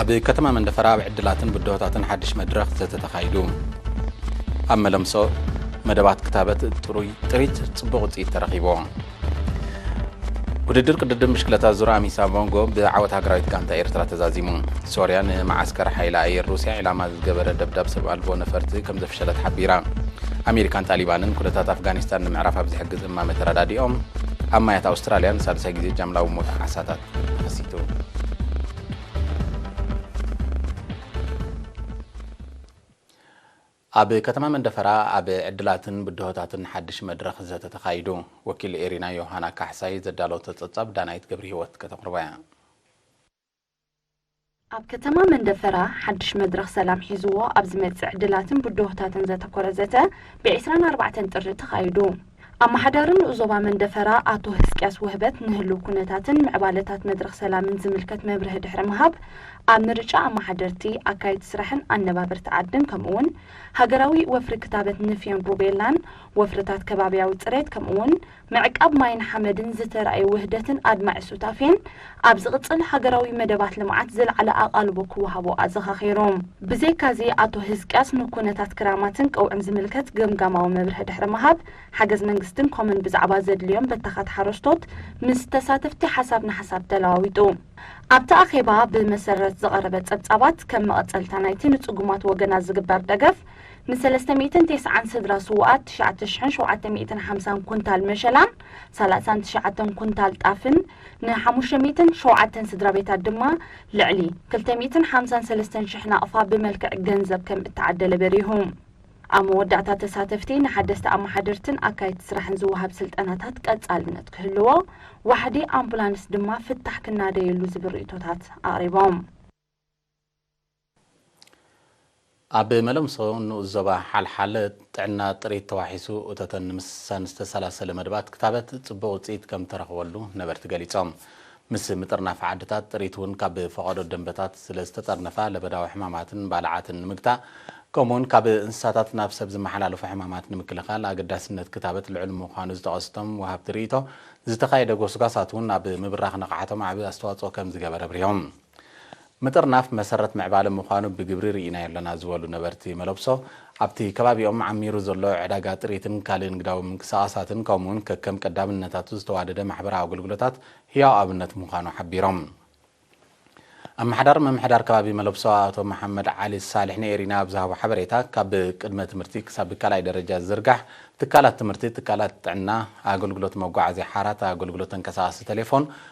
ኣብ ከተማ መንደፈራ ኣብ ዕድላትን ብድሆታትን ሓድሽ መድረኽ ዘተ ተኻይዱ። ኣብ መለምሶ መደባት ክታበት ጥሩይ ጥሪት ጽቡቕ ውጽኢት ተረኺቦ። ውድድር ቅድድም ብሽክለታ ዙር ኣሚሳ ሞንጎ ብዓወት ሃገራዊት ጋንታ ኤርትራ ተዛዚሙ። ሶርያ ንመዓስከር ሓይሊ ኣየር ሩስያ ዒላማ ዝገበረ ደብዳብ ሰብ ኣልቦ ነፈርቲ ከም ዘፍሸለት ሓቢራ። ኣሜሪካን ጣሊባንን ኩነታት ኣፍጋኒስታን ንምዕራፍ ኣብ ዝሕግዝ እማመ ተረዳዲኦም። ኣብ ማያት ኣውስትራልያ ንሳልሳይ ግዜ ጃምላዊ ሞት ዓሳታት ኣብ ከተማ መንደፈራ ኣብ ዕድላትን ብድሆታትን ሓድሽ መድረኽ ዘተ ተኻይዱ። ወኪል ኤሪና ዮሃና ካሕሳይ ዘዳለወቶ ጸብጻብ ዳናይት ገብሪ ህይወት ከተቕርቦ እያ። ኣብ ከተማ መንደፈራ ሓድሽ መድረኽ ሰላም ሒዝዎ ኣብ ዝመፅእ ዕድላትን ብድሆታትን ዘተኮረ ዘተ ብ ዕስራን ኣርባዕተን ጥሪ ተኻይዱ። ኣማሓዳሪ ንኡስ ዞባ መንደፈራ ኣቶ ህዝቅያስ ውህበት ንህልው ኩነታትን ምዕባለታት መድረኽ ሰላምን ዝምልከት መብርሂ ድሕሪ ምሃብ ኣብ ምርጫ ኣማሓደርቲ፣ ኣካየድቲ ስራሕን ኣነባበርቲ ዓድን ከምኡ'ውን ሃገራዊ ወፍሪ ክታበት ንፍዮን ሩቤላን ወፍርታት ከባብያዊ ፅሬት ከምኡ'ውን ምዕቃብ ማይን ሓመድን ዝተራእየ ውህደትን ኣድማዒ ሱታፌን፣ ኣብ ዝቕጽል ሃገራዊ መደባት ልምዓት ዝለዓለ ኣቓልቦ ክወሃቦ ኣዘኻኺሩ። ብዘይካ'ዚ ኣቶ ህዝቅያስ ንኩነታት ክራማትን ቀውዒን ዝምልከት ገምጋማዊ መብርሂ ድሕሪ ምሃብ፣ ሓገዝ መንግስትን ኮምን ብዛዕባ ዘድልዮም በተኻት ሓረስቶት ምስ ተሳተፍቲ ሓሳብ ንሓሳብ ተለዋዊጡ። ኣብቲ ኣኼባ ብመሰረት ዝቐረበ ጸብጻባት፣ ከም መቐጸልታ ናይቲ ንጽጉማት ወገናት ዝግበር ደገፍ፣ ንሰለስተ ሚእትን ቴስዓን ስድራ ስዉኣት ትሽዓተ ሽሕን ሸውዓተ ሚእትን ሓምሳን ኩንታል መሸላን ሰላሳን ትሽዓተን ኩንታል ጣፍን፣ ንሓሙሽተ ሚእትን ሸውዓተን ስድራቤታት ድማ ልዕሊ ክልተ ሚእትን ሓምሳን ሰለስተን ሽሕ ናቕፋ ብመልክዕ ገንዘብ ከም እተዓደለ በሪሁ። ኣብ መወዳእታ ተሳተፍቲ ንሓደስቲ ኣመሓደርትን ኣካየድቲ ስራሕን ዝወሃብ ስልጠናታት ቀጻልነት ክህልዎ፣ ዋሕዲ ኣምቡላንስ ድማ ፍታሕ ክናደየሉ ዝብል ርእይቶታት ኣቕሪቦም። ኣብ መለምሶ ንኡስ ዞባ ሓልሓለ ጥዕና ጥሪት ተዋሒሱ እቶተን ንምስሳን ዝተሰላሰለ መደባት ክታበት ፅቡቕ ውፅኢት ከምተረኽበሉ ነበርቲ ገሊፆም። ምስ ምጥርናፍ ዓድታት ጥሪት እውን ካብ ፈቐዶ ደንበታት ስለዝተጠርነፋ ለበዳዊ ሕማማትን ባልዓትን ንምግታእ ከምኡ እውን ካብ እንስሳታት ናብ ሰብ ዝመሓላለፉ ሕማማት ንምክልኻል ኣገዳስነት ክታበት ልዑል ምዃኑ ዝጠቐሱ እቶም ወሃብቲ ርኢቶ ዝተኻየደ ጎስጓሳት እውን ኣብ ምብራኽ ንቕሓቶም ዓብይ ኣስተዋፅኦ ከምዝገበረ ኣብሪሆም። ምጥርናፍ መሰረት ምዕባለ ምዃኑ ብግብሪ ርኢናዮ ኣለና ዝበሉ ነበርቲ መለብሶ፣ ኣብቲ ከባቢኦም ዓሚሩ ዘሎ ዕዳጋ ጥሪትን ካልእ ንግዳዊ ምንቅስቓሳትን ከምኡ'ውን ከከም ቀዳምነታቱ ዝተዋደደ ማሕበራዊ ኣገልግሎታት ህያው ኣብነት ምዃኑ ሓቢሮም። ኣመሓዳሪ ምምሕዳር ከባቢ መለብሶ ኣቶ መሓመድ ዓሊ ሳልሕ ንኤሪና ኣብ ዝሃቦ ሓበሬታ፣ ካብ ቅድመ ትምህርቲ ክሳብ ካልኣይ ደረጃ ዝዝርጋሕ ትካላት ትምህርቲ፣ ትካላት ጥዕና፣ ኣገልግሎት መጓዓዝያ ሓራት፣ ኣገልግሎት ተንቀሳቓሲ ተሌፎን፣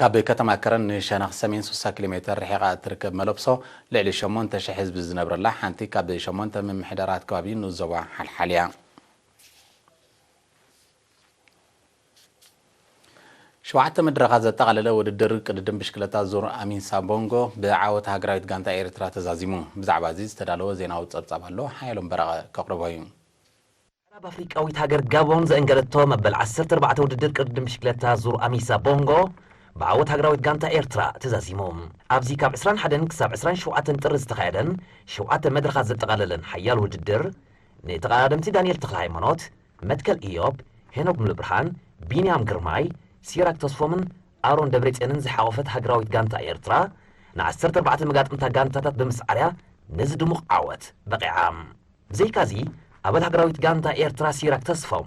ካብ ከተማ ከረን ንሸነኽ ሰሜን ስሳ ኪሎ ሜተር ርሒቓ እትርከብ መለብሶ፣ ልዕሊ ሸሞንተ ሽሕ ህዝቢ ዝነብረላ ሓንቲ ካብ ሸሞንተ ምምሕዳራት ከባቢ ንኡስ ዞባ ሓልሓል እያ። ሸውዓተ መድረኻት ዘጠቓለለ ውድድር ቅድድም ብሽክለታ ዙር ኣሚን ሳቦንጎ ብዓወት ሃገራዊት ጋንታ ኤርትራ ተዛዚሙ። ብዛዕባ እዚ ዝተዳለወ ዜናዊ ጸብጻብ ኣሎ፣ ሓየሎም በረቐ ከቕርቦ እዩ። ምዕራብ ኣፍሪቃዊት ሃገር ጋቦን ዘእንገደቶ መበል ዓሰርተ ኣርባዕተ ውድድር ቅድድም ብሽክለታ ዙር ኣሚሳ ቦንጎ ብዓወት ሃገራዊት ጋንታ ኤርትራ ተዛዚሙ። ኣብዚ ካብ ዕስራን ሓደን ክሳብ ዕስራን ሸውዓተን ጥሪ ዝተኻየደን ሸውዓተ መድረኻት ዘጠቓለለን ሓያል ውድድር፣ ንተቐዳደምቲ ዳኒኤል ተኽለሃይማኖት፣ መትከል እዮብ፣ ሄኖክ ሙሉብርሃን፣ ቢንያም ግርማይ፣ ሲራክ ተስፎምን ኣሮን ደብሬጽዮንን ዝሓቖፈት ሃገራዊት ጋንታ ኤርትራ፣ ንዓሰርተ ኣርባዕተ መጋጥምታ ጋንታታት ብምስዓር'ያ ነዚ ድሙቕ ዓወት በቒዓ። ብዘይካ'ዚ፣ ኣባል ሃገራዊት ጋንታ ኤርትራ ሲራክ ተስፋው፣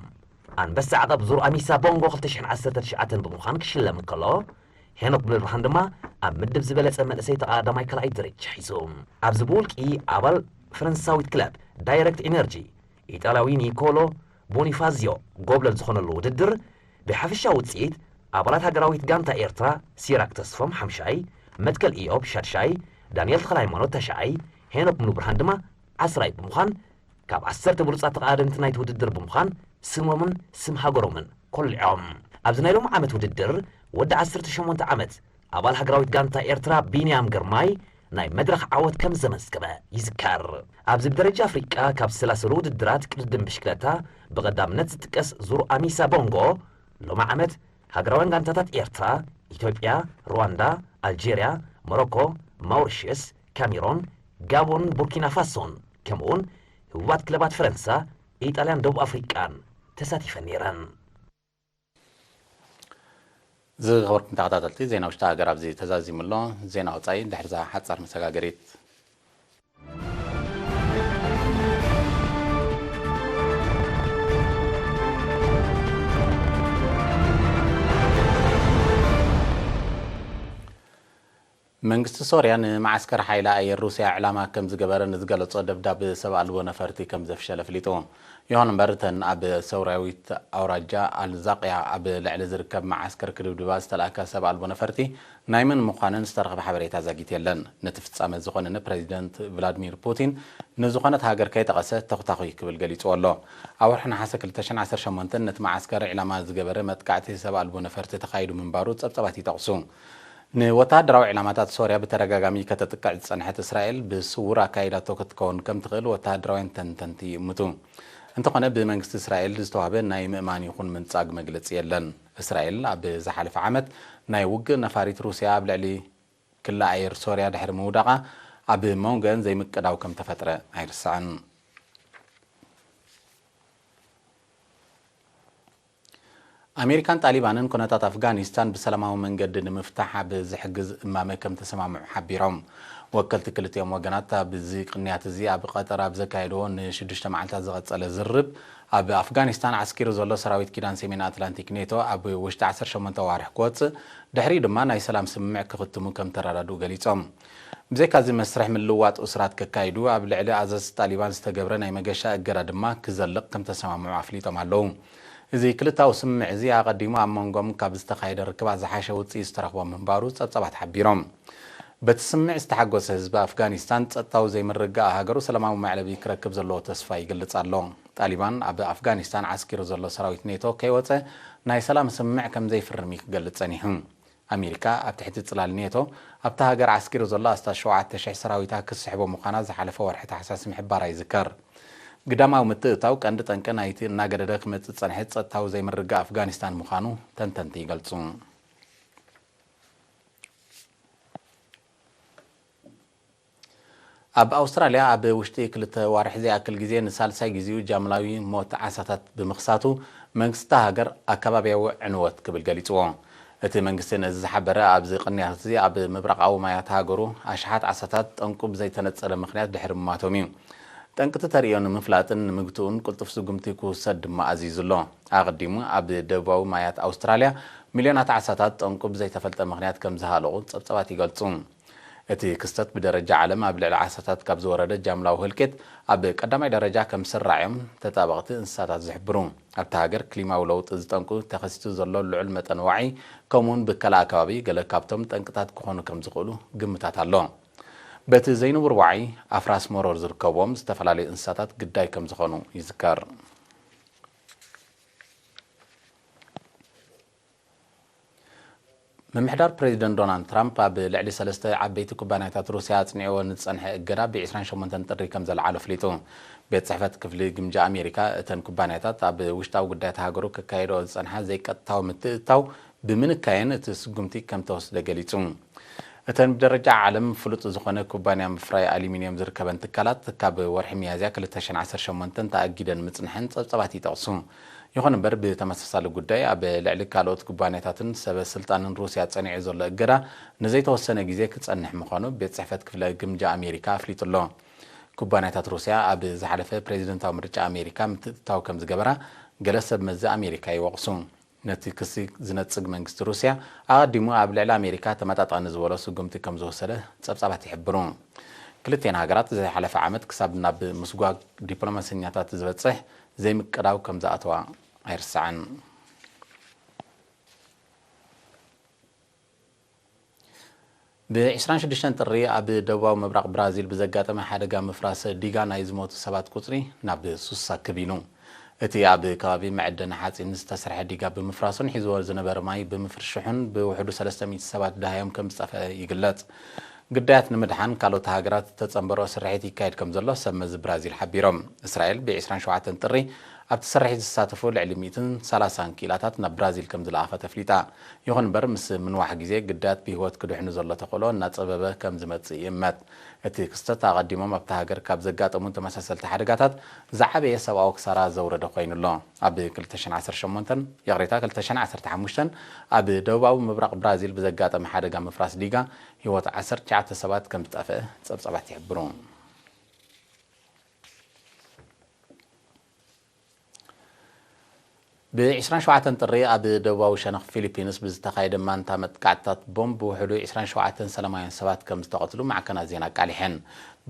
ኣንበሳ ዓቐብ ዙር ኣሚሳ ቦንጎ ክልተ ሽሕን ዓሰርተ ትሽዓተን ብምዃን ክሽለም እንከሎ፣ ሄኖክ ሙሉብርሃን ድማ ኣብ ምድብ ዝበለጸ መንእሰይ ተቐዳዳማይ ካልኣይ ደረጃ ሒዙ። ኣብዚ ብውልቂ ኣባል ፈረንሳዊት ክለብ ዳይረክት ኢነርጂ፣ ኢጣልያዊ ኒኮሎ ቦኒፋዝዮ ጎብለል ዝኾነሉ ውድድር፣ ብሓፈሻዊ ውጽኢት ኣባላት ሃገራዊት ጋንታ ኤርትራ ሲራክ ተስፎም ሓምሻይ፣ መትከል ኢዮብ ሻድሻይ፣ ዳንኤል ተኽለሃይማኖት ታሽዓይ፣ ሄኖክ ሙሉብርሃን ድማ ዓስራይ ብምዃን ካብ ዓሰርተ ብሉፃት ተቐዳደምቲ ናይቲ ውድድር ብምዃን ስሞምን ስም ሃገሮምን ኮሊዖም። ኣብዚ ናይ ሎሚ ዓመት ውድድር ወዲ ዓሰርተ ሸሞንተ ዓመት ኣባል ሃገራዊት ጋንታ ኤርትራ ቢንያም ግርማይ ናይ መድረኽ ዓወት ከምዘመዝገበ ይዝከር። ኣብዚ ብደረጃ ኣፍሪቃ ካብ ዝሰላሰሉ ውድድራት ቅድድም ብሽክለታ ብቐዳምነት ዝጥቀስ ዙር ኣሚሳ ቦንጎ ሎሚ ዓመት ሃገራውያን ጋንታታት ኤርትራ፣ ኢትዮጵያ፣ ሩዋንዳ፣ ኣልጀርያ፣ ሞሮኮ፣ ማውሪሽየስ፣ ካሜሮን፣ ጋቦን፣ ቡርኪናፋሶን ከምኡ'ውን ህቡባት ክለባት ፈረንሳ፣ ኢጣልያን ደቡብ ኣፍሪቃን ተሳቲፈን ነይረን። ዝኸበርኩም ተኸታተልቲ ዜና ውሽጢ ሃገር ኣብዚ ተዛዚሙ ኣሎ። ዜና ወጻኢ ድሕሪ'ዛ ሓጻር መሰጋገሪት። መንግስቲ ሶርያ ንመዓስከር ሓይሊ ኣየር ሩስያ ዕላማ ከም ዝገበረ ንዝገለጾ ደብዳብ ሰብ ኣልቦ ነፈርቲ ከም ዘፍሸለ ኣፍሊጡ። ይኹን እምበር እተን ኣብ ሰውራዊት ኣውራጃ ኣል-ዛቅያ ኣብ ልዕሊ ዝርከብ መዓስከር ክድብድባ ዝተላእካ ሰብ ኣልቦ ነፈርቲ ናይ መን ምዃነን ዝተረኽበ ሓበሬታ ዛጊት የለን። ነቲ ፍጻመ ዝዀነነ ፕረዚደንት ቭላድሚር ፑቲን ንዝዀነት ሃገር ከይጠቐሰ ተዅታዅይ ክብል ገሊጽዎ ኣሎ። ኣብ ወርሒ ነሓሰ ክልተ ሽሕን ዓሰርተ ሸሞንተን ነቲ መዓስከር ዒላማ ዝገበረ መጥቃዕቲ ሰብ ኣልቦ ነፈርቲ ተኻይዱ ምንባሩ ጸብጻባት ይጠቕሱ። ንወተሃደራዊ ዒላማታት ሶርያ ብተደጋጋሚ ከተጥቅዕ ዝጸንሐት እስራኤል ብስዉር ኣካይዳቶ ክትከውን ከም ትኽእል ወተሃደራውያን ተንተንቲ ይእምቱ። እንተዀነ ብመንግስቲ እስራኤል ዝተዋህበ ናይ ምእማን ይዅን ምንጻግ መግለጺ የለን። እስራኤል ኣብ ዝሓለፈ ዓመት ናይ ውግእ ነፋሪት ሩስያ ኣብ ልዕሊ ክሊ ኣየር ሶርያ ድሕሪ ምውዳቓ ኣብ መንጎኤን ዘይምቅዳው ከም ተፈጥረ ኣይርሳዕን። ኣሜሪካን ጣሊባንን ኩነታት ኣፍጋኒስታን ብሰላማዊ መንገዲ ንምፍታሕ ኣብ ዝሕግዝ እማመ ከም ተሰማምዑ ሓቢሮም። ወከልቲ ክልቲኦም ወገናት ኣብዚ ቅንያት እዚ ኣብ ቐጠር ኣብ ዘካየድዎ ንሽዱሽተ መዓልታት ዝቐጸለ ዝርርብ ኣብ ኣፍጋኒስታን ዓስኪሩ ዘሎ ሰራዊት ኪዳን ሰሜን ኣትላንቲክ፣ ኔቶ፣ ኣብ ውሽጢ ዓሰርተ ሸሞንተ ኣዋርሕ ክወጽእ፣ ድሕሪኡ ድማ ናይ ሰላም ስምምዕ ክኽትሙ ከምተረዳድኡ ገሊጾም። ብዘይካ'ዚ መስርሕ ምልውዋጥ እሱራት ከካይዱ፣ ኣብ ልዕሊ ኣዘዝቲ ጣሊባን ዝተገብረ ናይ መገሻ እገዳ ድማ ክዘልቕ ከምተሰማምዑ ኣፍሊጦም ኣለዉ። እዚ ክልታዊ ስምምዕ እዚ ኣቐዲሙ ኣብ መንጎኦም ካብ ዝተኻየደ ርክባት ዝሓሸ ውጽኢት ዝተረኽቦ ምንባሩ ጸብጻባት ሓቢሮም። በቲ ስምምዕ ዝተሓጎሰ ህዝቢ ኣፍጋኒስታን ጸጥታዊ ዘይምርግጋኣ ሃገሩ ሰላማዊ መዕለቢ ክረክብ ዘለዎ ተስፋ ይግልጽ ኣሎ። ጣሊባን ኣብ ኣፍጋኒስታን ዓስኪሩ ዘሎ ሰራዊት ኔቶ ከይወጸ ናይ ሰላም ስምምዕ ከምዘይፍርም እዩ ክገልጽ ጸኒሑ። ኣሜሪካ ኣብ ትሕቲ ጽላል ኔቶ ኣብታ ሃገር ዓስኪሩ ዘሎ ኣስታት ሸውዓተ ሽሕ ሰራዊታ ክትስሕቦ ምዃና ዝሓለፈ ወርሒ ታሕሳስ ምሕባራ ይዝከር። ግዳማዊ ምትእትታው ቀንዲ ጠንቂ ናይቲ እናገደደ ክመጽእ ዝጸንሐ ጸጥታዊ ዘይምርግጋእ ኣፍጋኒስታን ምዃኑ ተንተንቲ ይገልጹ። ኣብ ኣውስትራልያ ኣብ ውሽጢ ክልተ ኣዋርሕ ዘይኣክል ግዜ ንሳልሳይ ግዚኡ ጃምላዊ ሞት ዓሳታት ብምኽሳቱ መንግስቲ እታ ሃገር ኣከባብያዊ ዕንወት ክብል ገሊጽዎ። እቲ መንግስቲ ነዚ ዝሓበረ ኣብዚ ቅንያት'ዚ ኣብ ምብራቓዊ ማያት ሃገሩ ኣሽሓት ዓሳታት ጠንቁ ብዘይተነጸለ ምኽንያት ድሕሪ ምሟቶም'ዩ። ጠንቂ'ቲ ተርእዮ ንምፍላጥን ንምግትኡን ቅልጡፍ ስጉምቲ ክውሰድ ድማ ኣዚዙ'ሎ። ኣቐዲሙ ኣብ ደቡባዊ ማያት ኣውስትራልያ ሚልዮናት ዓሳታት ጠንቁ ብዘይተፈልጠ ምኽንያት ከም ዝሃለቑ ጸብጻባት ይገልጹ። እቲ ክስተት ብደረጃ ዓለም ኣብ ልዕሊ ዓሳታት ካብ ዝወረደ ጃምላዊ ህልቂት ኣብ ቀዳማይ ደረጃ ከም ዝስራዕ'ዮም ተጣበቕቲ እንስሳታት ዝሕብሩ። ኣብታ ሃገር ክሊማዊ ለውጢ ዝጠንቁ ተኸሲቱ ዘሎ ልዑል መጠን ዋዒ ከምኡ'ውን ብከላ ኣከባቢ ገለ ካብቶም ጠንቅታት ክኾኑ ከም ዝኽእሉ ግምታት ኣሎ። በቲ ዘይንቡር ዋዒ ኣፍራስ መሮር ዝርከብዎም ዝተፈላለዩ እንስሳታት ግዳይ ከም ዝኾኑ ይዝከር። ምምሕዳር ፕሬዚደንት ዶናልድ ትራምፕ ኣብ ልዕሊ ሰለስተ ዓበይቲ ኩባንያታት ሩስያ ኣፅኒዕዎ ንዝፀንሐ እገዳ ብ ዕስራን ሸሞንተን ጥሪ ከምዘልዓሎ ኣፍሊጡ። ቤት ፅሕፈት ክፍሊ ግምጃ ኣሜሪካ እተን ኩባንያታት ኣብ ውሽጣዊ ጉዳያት ሃገሩ ከካይድኦ ዝፀንሓ ዘይቀጥታዊ ምትእትታው ብምንካየን እቲ ስጉምቲ ከምተወስደ ገሊጹ። እተን ብደረጃ ዓለም ፍሉጥ ዝኾነ ኩባንያ ምፍራይ ኣሉሚንየም ዝርከበን ትካላት ካብ ወርሒ ሚያዝያ ክልተ ሽሕን ዓሰርተ ሸሞንተን ተኣጊደን ምጽንሐን ጸብጻባት ይጠቕሱ። ይኹን እምበር ብተመሳሳሊ ጉዳይ ኣብ ልዕሊ ካልኦት ኩባንያታትን ሰበ ስልጣንን ሩስያ ጸኒዑ ዘሎ እገዳ ንዘይተወሰነ ግዜ ክጸንሕ ምዃኑ ቤት ጽሕፈት ክፍለ ግምጃ ኣሜሪካ ኣፍሊጡ'ሎ። ኩባንያታት ሩስያ ኣብ ዝሓለፈ ፕሬዚደንታዊ ምርጫ ኣሜሪካ ምትእትታው ከምዝገበራ ገለ ሰብ መዚ ኣሜሪካ ይወቕሱ። ነቲ ክሲ ዝነጽግ መንግስቲ ሩስያ፣ ኣቐዲሙ ኣብ ልዕሊ ኣሜሪካ ተመጣጣኒ ዝበሎ ስጉምቲ ከም ዝወሰደ ጸብጻባት ይሕብሩ። ክልቲኤን ሃገራት ዝሓለፈ ዓመት ክሳብ ናብ ምስጓግ ዲፕሎማሰኛታት ዝበጽሕ ዘይምቅዳው ከም ዝኣተዋ ኣይርሳዕን። ብ ዕስራን ሽዱሽተን ጥሪ ኣብ ደቡባዊ ምብራቕ ብራዚል ብዘጋጠመ ሓደጋ ምፍራስ ዲጋ ናይ ዝሞቱ ሰባት ቁጽሪ ናብ ሱሳ ከቢኑ። እቲ ኣብ ከባቢ መዐደኒ ሓጺን ዝተሰርሐ ዲጋ ብምፍራሱን ሒዝዎ ዝነበረ ማይ ብምፍርሽሑን ብውሕዱ ሰለስተ ሚእቲ ሰባት ደሃዮም ከምዝጠፍኣ ይግለጽ። ግዳያት ንምድሓን ካልኦት ሃገራት ዝተጸንበርኦ ስርሒት ይካየድ ከምዘሎ ሰብ መዚ ብራዚል ሓቢሮም። እስራኤል ብ ዕስራን ሸውዓተን ጥሪ ኣብቲ ስርሒት ዝሳተፉ ልዕሊ ሚእትን ሰላሳን ክኢላታት ናብ ብራዚል ከምዝለኣኸት ኣፍሊጣ። ይኹን እምበር ምስ ምንዋሕ ግዜ ግዳያት ብህይወት ክድሕኑ ዘሎ ተኽእሎ እናጸበበ ከም ዝመጽእ ይእመት። እቲ ክስተት ኣቐዲሞም ኣብታ ሃገር ካብ ዘጋጠሙ ተመሳሰልቲ ሓደጋታት ዝዓበየ ሰብኣዊ ክሳራ ዘውረደ ኮይኑ ኣሎ። ኣብ ክልተ ሽሕን ዓሰርተ ሸሞንተን፣ ይቕሬታ ክልተ ሽሕን ዓሰርተ ሓሙሽተን፣ ኣብ ደቡባዊ ምብራቕ ብራዚል ብዘጋጠመ ሓደጋ ምፍራስ ዲጋ ህይወት ዓሰርተ ትሽዓተ ሰባት ከም ዝጠፍአ ጸብጻባት ይሕብሩ። ብ ዕስራን ሸውዓተን ጥሪ ኣብ ደቡባዊ ሸነኽ ፊሊፒንስ ብዝተኻየደ ማንታ መጥቃዕትታት ቦምብ ብውሕዱ ዕስራን ሸውዓተን ሰላማውያን ሰባት ከም ዝተቐትሉ ማዕከናት ዜና ኣቃሊሐን።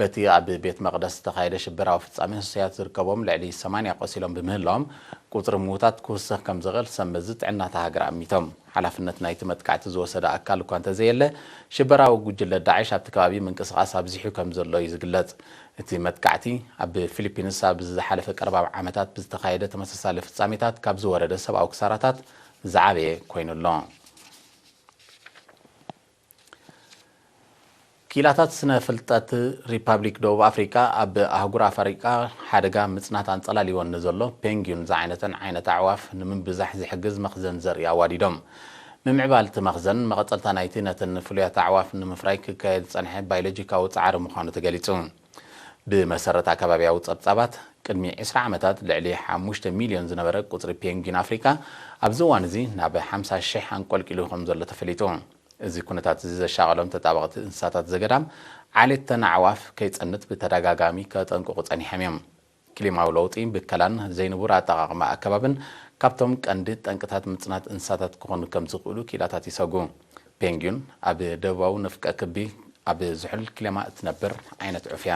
በቲ ኣብ ቤት መቕደስ ዝተኻየደ ሽበራዊ ፍጻሜ ህሱያት ዝርከብዎም ልዕሊ ሰማንያ ቆሲሎም ብምህላዎም ቁጽሪ ምዉታት ክውስኽ ከም ዝኽእል ሰብ መዚ ጥዕና እታ ሃገር ኣሚቶም። ሓላፍነት ናይቲ መጥቃዕቲ ዝወሰደ ኣካል እኳ እንተዘየለ፣ ሽበራዊ ጉጅለ ዳዕሽ ኣብቲ ከባቢ ምንቅስቓስ ኣብዚሑ ከምዘሎ እዩ ዝግለጽ። እቲ መጥቃዕቲ፣ ኣብ ፊሊፒንስ ኣብ ዝሓለፈ ቀረባ ዓመታት ብዝተኻየደ ተመሳሳሊ ፍጻሜታት ካብ ዝወረደ ሰብኣዊ ክሳራታት ዝዓበየ ኮይኑ'ሎ። ክኢላታት ስነ ፍልጠት ሪፓብሊክ ደቡብ ኣፍሪቃ ኣብ ኣህጉር ኣፍሪቃ ሓደጋ ምጽናት ኣንጸላልይወን ንዘሎ ፔንግዩን ዝዓይነተን ዓይነት ኣዕዋፍ ንምብዛሕ ዝሕግዝ መኽዘን ዘርኢ ኣዋዲዶም። ምምዕባል እቲ መኽዘን መቐጸልታ ናይቲ ነተን ፍሉያት ኣዕዋፍ ንምፍራይ ክካየድ ዝጸንሐ ባይሎጂካዊ ጻዕሪ ምዃኑ ተገሊጹ። ብመሰረት ኣከባቢያዊ ጸብጻባት፣ ቅድሚ ዕስራ ዓመታት ልዕሊ ሓሙሽተ ሚልዮን ዝነበረ ቁጽሪ ፔንግዊን ኣፍሪቃ፣ ኣብዚ እዋን'ዚ ናብ ሓምሳ ሽሕ ኣንቈልቂሉ ከም ዘሎ ተፈሊጡ። እዚ ኵነታት'ዚ ዘሻቐሎም ተጣበቕቲ እንስሳታት ዘገዳም፣ ዓሌት'ተን ኣዕዋፍ ከይጸንት ብተደጋጋሚ ከጠንቅቑ ጸኒሖም'ዮም። ክሊማዊ ለውጢ፣ ብከላን ዘይንቡር ኣጠቓቕማ ኣከባብን ካብቶም ቀንዲ ጠንቅታት ምጽናት እንስሳታት ክኾኑ ከም ዝኽእሉ ክኢላታት ይሰጉ። ፔንግዩን ኣብ ደቡባዊ ንፍቀ ክቢ ኣብ ዝሑል ክሊማ እትነብር ዓይነት ዑፍ እያ።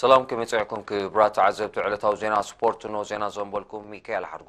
ሰላም ከመይ ጸዕኩም ክብራት ተዓዘብቲ ዕለታዊ ዜና ስፖርት ኖ ዜና ዘንበልኩም ሚካኤል ሓድጉ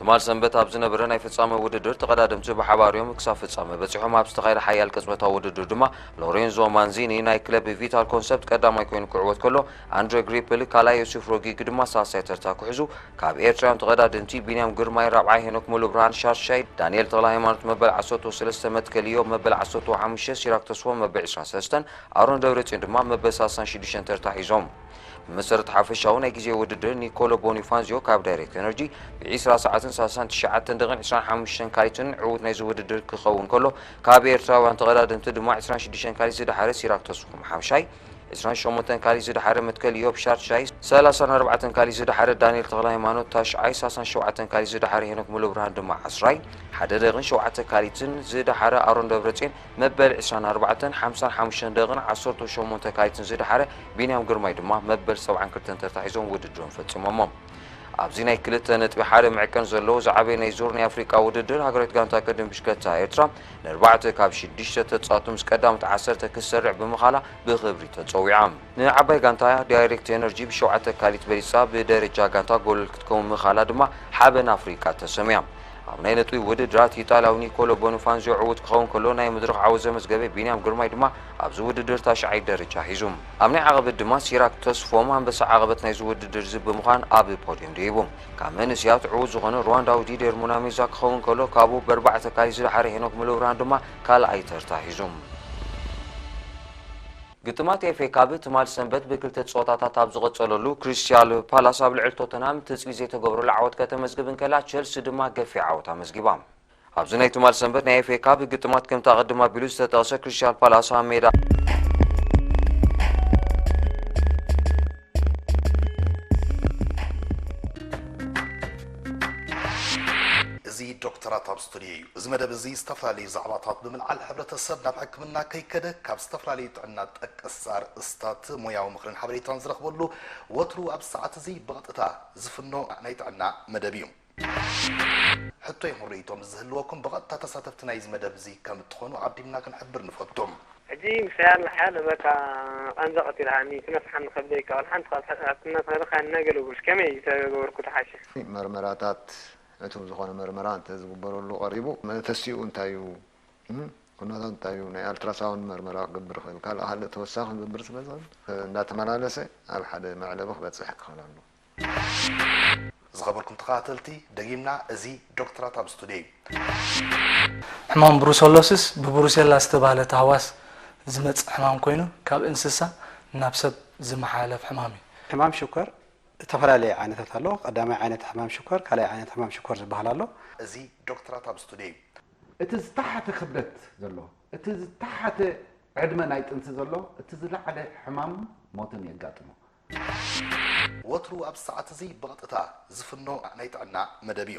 ትማል ሰንበት ኣብ ዝነበረ ናይ ፍጻመ ውድድር ተቐዳደምቲ ብሓባር እዮም ክሳብ ፍጻመ በፂሖም ኣብ ዝተኻየደ ሓያል ቅጽበታዊ ውድድር ድማ ሎሬንዞ ማንዚኒ ናይ ክለብ ቪታል ኮንሰፕት ቀዳማይ ኮይኑ ክዕወት ከሎ ኣንድሬ ግሪፕል ካልኣይ ዮሴፍ ሮጊግ ድማ ሳልሳይ ተርታ ክሕዙ ካብ ኤርትራውያን ተቐዳደምቲ ቢንያም ግርማይ ራብዓይ ሄኖክ ሙሉ ብርሃን ሻድሻይ ዳንኤል ተኽለ ሃይማኖት መበል ዓሰርተ ሰለስተ መትከል እዮብ መበል ዓሰርተ ሓሙሽተ ሲራክ ተስፎ መበል ዕስራን ሰለስተን ኣሮን ደብረጽዮን ድማ መበል ሳልሳን ሽዱሽተን ተርታ ሒዞም። ብመሰረት ሓፈሻዊ ናይ ግዜ ውድድር ኒኮሎ ቦኒፋንዚዮ ካብ ዳይሬክት ኤነርጂ ብ ዕስራ ሰዓትን ሳልሳን ትሽዓተን ደቂቕን ዕስራን ሓሙሽተን ካሊትን ዕዉት ናይዚ ውድድር ክኸውን ከሎ ካብ ኤርትራውያን ተቐዳደምቲ ድማ ዕስራን ሽዱሽተን ካሊት ዝደሓረ ሲራክ ተስፎም ሓምሻይ ዕስራን ሸሞንተን ካሊት ዝደሓረ መትከል እዮብ ሻድሻይ ሰላሳን ኣርባዕተን ካሊት ዝደሓረ ዳንኤል ተኽለሃይማኖት ታሽዓይ ሳልሳን ሸውዓተን ካሊት ዝደሓረ ሄኖክ ሙሉብርሃን ድማ ዓስራይ ሓደ ደቂቕን ሸውዓተ ካሊትን ዝደሓረ ኣሮን ደብረጽዮን መበል ዕስራን ኣርባዕተን፣ ሓምሳን ሓሙሽተን ደቕን ዓሰርተው ሸሞንተ ካይትን ዝደሓረ ቢንያም ግርማይ ድማ መበል ሰብዓን ክልተን ተርታ ሒዞም ውድድሮም ፈጺሞሞ። ኣብዚ ናይ ክልተ ነጥቢ ሓደ መዕቀን ዘለዎ ዝዓበየ ናይ ዞር ናይ ኣፍሪቃ ውድድር፣ ሃገራዊት ጋንታ ቅድድም ብሽከታ ኤርትራ ንኣርባዕተ ካብ ሽዱሽተ ተጻወትቲ ምስ ቀዳሞት ዓሰርተ ክትሰርዕ ብምኻላ ብኽብሪ ተጸዊዓ። ንዓባይ ጋንታ እያ፣ ዳይሬክት ኤነርጂ ብሸውዓተ ኣካሊት በሊጻ ብደረጃ ጋንታ ጎል ክትከውን ምኽኣላ ድማ ሓበን ኣፍሪቃ ተሰምያ። ኣብ ናይ ነጥቢ ውድድራት ኢጣልያዊ ኒኮሎ ቦንፋንዚዮ ዕዉት ክኸውን ከሎ ናይ መድረኽ ዓወት ዘመዝገበ ቢንያም ግርማይ ድማ ኣብዚ ውድድር ታሽዓይ ደረጃ ሒዙ። ኣብ ናይ ዓቐበት ድማ ሲራክ ተስፎም ኣንበሳ ዓቐበት ናይዚ ውድድር'ዚ ብምዃን ኣብ ፖድዮም ደይቡ። ካብ መንእሰያት ዕዉት ዝኾነ ርዋንዳዊ ዲዴር ሙናሜዛ ክኸውን ከሎ ካብኡ ብኣርባዕተ ኣካሊት ዝደሓረ ሄኖክ ሙለብርሃን ድማ ካልኣይ ተርታ ሒዙ። ግጥማት ኤፍኤ ካብ ትማል ሰንበት ብክልተ ጸወታታት ኣብ ዝቐጸለሉ ክሪስታል ፓላስ ኣብ ልዕሊ ቶተንሃም ትጽቢት ዘይተገብረሉ ዓወት ከተመዝግብ እንከላ ቸልሲ ድማ ገፊሕ ዓወት ኣመዝጊባ። ኣብዚ ናይ ትማል ሰንበት ናይ ኤፍኤ ካብ ግጥማት ከምቲ ኣቐድም ኣቢሉ ዝተጠቕሰ ክሪስታል ፓላስ ኣብ ሜዳ ፍልይ እዩ እዚ መደብ እዚ ዝተፈላለዩ ዛዕባታት ብምልዓል ሕብረተሰብ ናብ ሕክምና ከይከደ ካብ ዝተፈላለዩ ጥዕና ጠቀስቲ ኣርእስታት ሞያዊ ምኽርን ሓበሬታን ዝረኽበሉ ወትሩ ኣብዚ ሰዓት እዚ ብቐጥታ ዝፍኖ ናይ ጥዕና መደብ እዩ። ሕቶ ይኹን ርእይቶ ምስ ዝህልወኩም ብቐጥታ ተሳተፍቲ ናይዚ መደብ እዚ ከም እትኾኑ ዓዲምና ክንሕብር ንፈቱ። ሕጂ ምሳይ ኣለኻ ዶ በቃ ቃንዛ ቀቲልካኒ ክነፍሓኒ ከብደይ ከቅልሓ እንተ ካብ ሕማም ሕክምና ተኸልኻኒ ኣገልግሎት ከመይ ተገበርኩ ተሓሸ። መርመራታት ዕቱብ ዝኾነ መርመራ እንተዝግበረሉ ቀሪቡ መተሲኡ እንታይ እዩ ኩነታት እንታይ እዩ ናይ ኣልትራሳውንድ መርመራ ክገብር ይኽእል ካልእ ካልእ ተወሳኺ ክገብር ስለ ዝኽእል እንዳተመላለሰ ኣብ ሓደ መዕለቢ ክበፅሕ ክኽእል ኣለዎ። ዝኸበርኩም ተኸታተልቲ ደጊምና እዚ ዶክትራት ኣብ ስቱድዮ እዩ። ሕማም ብሩሰሎሲስ ብብሩሴላ ዝተባህለ ታህዋስ ዝመፅእ ሕማም ኮይኑ ካብ እንስሳ ናብ ሰብ ዝመሓላለፍ ሕማም እዩ። ሕማም ሽኮር እተፈላለየ ዓይነታት ኣሎ። ቀዳማይ ዓይነት ሕማም ሽኮር፣ ካልኣይ ዓይነት ሕማም ሽኮር ዝበሃል ኣሎ። እዚ ዶክትራት ኣብ ስቱድዮ እዩ። እቲ ዝተሓተ ክብደት ዘለዎ፣ እቲ ዝተሓተ ዕድመ ናይ ጥንሲ ዘሎ እቲ ዝለዓለ ሕማም ሞትን የጋጥሞ። ወትሩ ኣብዚ ሰዓት እዚ ብቐጥታ ዝፍኖ ናይ ጥዕና መደብ እዩ።